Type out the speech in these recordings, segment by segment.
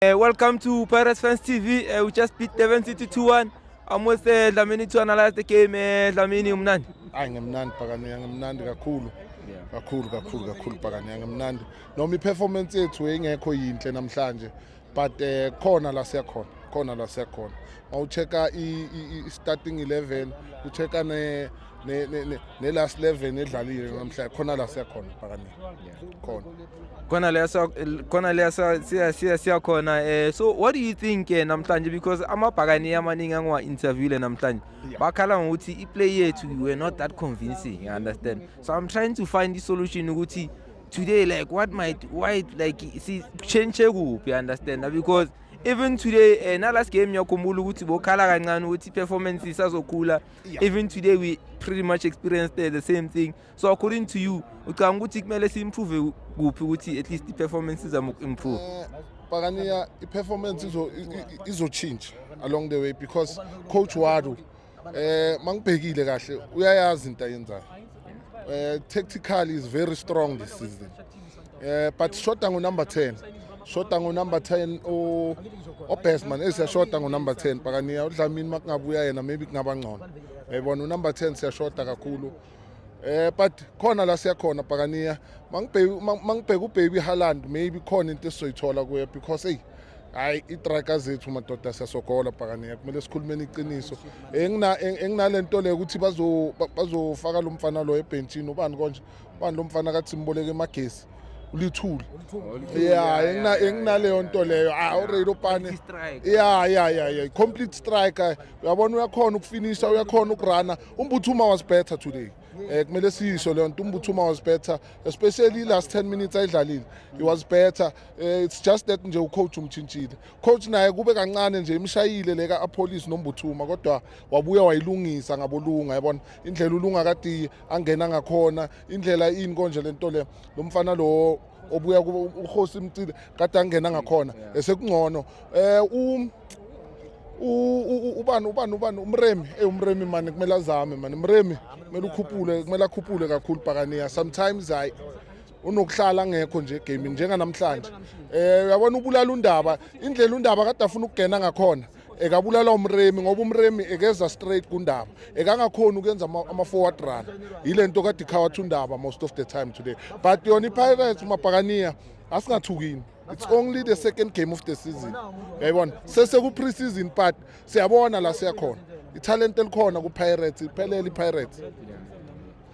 Uh, welcome to Pirates Fans TV. Uh, eh, we just beat Devon City 2-1. I'm with uh, Dlamini to analyze the game. Uh, Dlamini, umnandi. Hayi ngimnandi Pakaniya, ngimnandi kakhulu. Kakhulu kakhulu kakhulu Pakaniya, ngimnandi. Noma i-performance yethu engekho yinhle namhlanje. but eh, khona la siyakhona khona la siyakhona mawucheka i-starting 11 ucheka ne ne-last eleven edlalile namhlanje khona la siyakhona phakani khona khona la khona la siya siya siyakhona eh so what do you think eh, namhlanje because amabhakani amaningi angiwa interviewle namhlanje bakhala ngokuthi i play yethu we were not that convincing you understand so i'm trying to find i solution ukuthi today like what might why like si change kuphi understand because even today uh, eh, na last game ngiyakhumbula ukuthi bokhala kancane ukuthi performance isazokhula yeah. even today we pretty much experienced the same thing so according to you ucanga ukuthi kumele si-improve kuphi ukuthi at least i-performance izama uku-improve eh, pakaniya i-performance izotshintsha along the way because coach wadu eh mangibhekile kahle uyayazi into ayenzayo eh tactically is very strong this season eh but shota ngo number 10 shota ngo number 10 o obestman esiyashota ngo number 10 pakaniya udlamini makungabuya yena maybe kungaba ngcono yayibona unumber 10 siyashota kakhulu Eh but khona la siyakhona pakaniya mangibheki mangibheka ubaby Haaland maybe khona into esizoyithola kuye because hey hayi itraka zethu madoda siyasogola pakaniya kumele sikhulumeni iqiniso engina enginalento le ukuthi bazo bazofaka lo mfana lo ebhentshini ubani konje ubani lo mfana kathi simboleke emagesi ulithuli ya engina enginaleyo nto leyo ah already opane ya ya ya ya complete striker uyabona uyakhona ukufinisha uyakhona ukurana Umbuthuma was better today. Eh kumele siyisho leyo nto Umbuthuma was better especially last 10 minutes ayidlalile. He was better. Eh, it's just that nje ucoach umchintshile. Coach naye kube kancane nje imshayile leka apolice nombuthuma kodwa wabuya wayilungisa ngabolunga yabona indlela ulunga kade angena ngakhona indlela ini konje lento le lomfana lo obuya uhosi mcile kade angena ngakhona esekungcono um ubani ubani ubani umremi ey umremi mani kumele azame mani mremi kumele ukhuphule kumele akhuphule kakhulu bhakaniya sometimes hayi unokuhlala ngekho nje gaming njenganamhlanje um uyabona ubulala undaba indlela undaba kade afuna ukugena ngakhona ekabulala umremi ngoba umremi ekeza straight kundaba ekangakhona ukuyenza ama-forward run yile nto kade ikhawathi undaba most of the time today but yona ipirates umabhakaniya asingathukini it's only the second game of the season yayibona sesekupree season part siyabona la siyakhona ithalente elikhona kupirates iphelele ipirates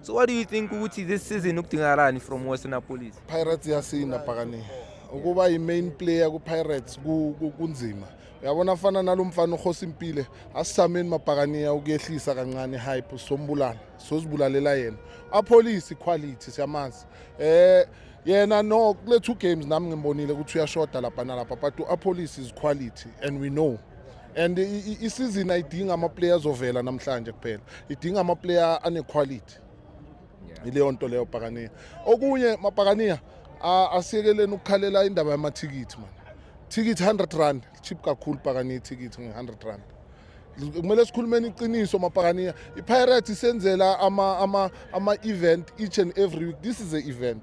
So what do you think ukuthi this season ukudingakalani from Western Police? Pirates yasinda bhakani. Ukuba i main player ku Pirates kunzima. Uyabona afana nalomfana uhosi impile asisameni mabhakaniya ukuyehlisa kancane hype sombulana sozibulalela yena. A police quality siyamazi. Eh yena no kule two games nami ngimbonile ukuthi uyashoda lapha nalapha but u Apolis is quality and we know and isizini ayidingi amaplayer azovela namhlanje kuphela idinga amaplayer anequality yileyo nto leyo pakaniya okunye mapakaniya asiyekeleni ukukhalela indaba yamathikithi mani thikithi 100 rand cheap kakhulu pakaniya ithikithi nge-100 rand kumele sikhulumeni iqiniso mapakaniya ipirates isenzela ama-event ama, ama each and every week this is a event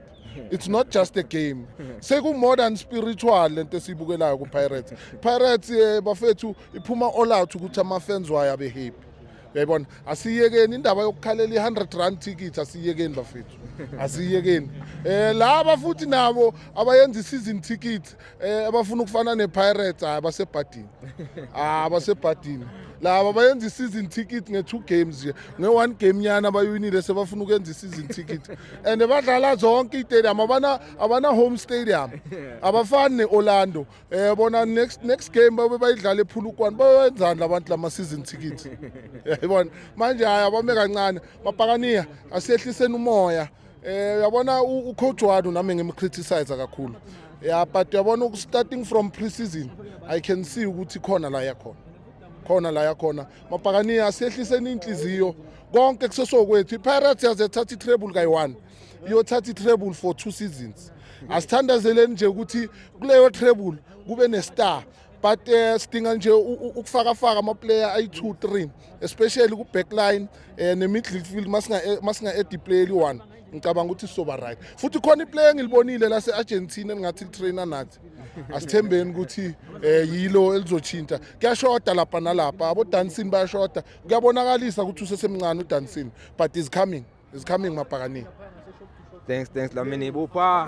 it's not just a game seku-modern spiritual le nto esiyibukelayo kupirates pirates um bafethu iphuma all out ukuthi ama-fans wayo abe happy uyayibona asiyekeni indaba yokukhalela i-100 rand ticket asiyekeni bafethu asiyekeni um laba futhi nabo abayenza i-season ticket Eh abafuna ukufana nePirates hayi basebhadini. Ah basebhadini. Laba bayenza i-season ticket nge-two games nje. Nge-one game nyana abayinile sebafuna ukwenza i-season ticket. And badlala zonke i-stadium abana abana home stadium. Abafani ne-Orlando. Eh bona next next game babe bayidlala ePhulukwane. Bayenzani labantu lama season ticket. Yabona. Manje hayi abame kancane. Mapakaniya asehliseni umoya. Eh uyabona ucoach wadu nami ngimcriticize kakhulu. Yeah but uyabona starting from pre-season I can see ukuthi khona la yakhona. Khona la yakhona. Mapakani asehliseni inhliziyo konke kusesokwethu. IPirates yaze thatha i-treble kayi-1. Iyothatha i-treble for two seasons. Asithandazeleni nje ukuthi kuleyo treble kube ne-star. but uh, sidinga nje ukufakafaka amaplayer ayi-two three especially ku-backline um ne-midfield masinga-edi player eli-one ngicabanga ukuthi sizoba right futhi khona iplayer engilibonile lase-argentina elingathi litraina nathi asithembeni ukuthi um yilo elizoshintsha kuyashoda lapha nalapha abodansini bayashoda kuyabonakalisa ukuthi usesemncane udansini but is coming is coming mabhakanini thanks thanks lamini bupha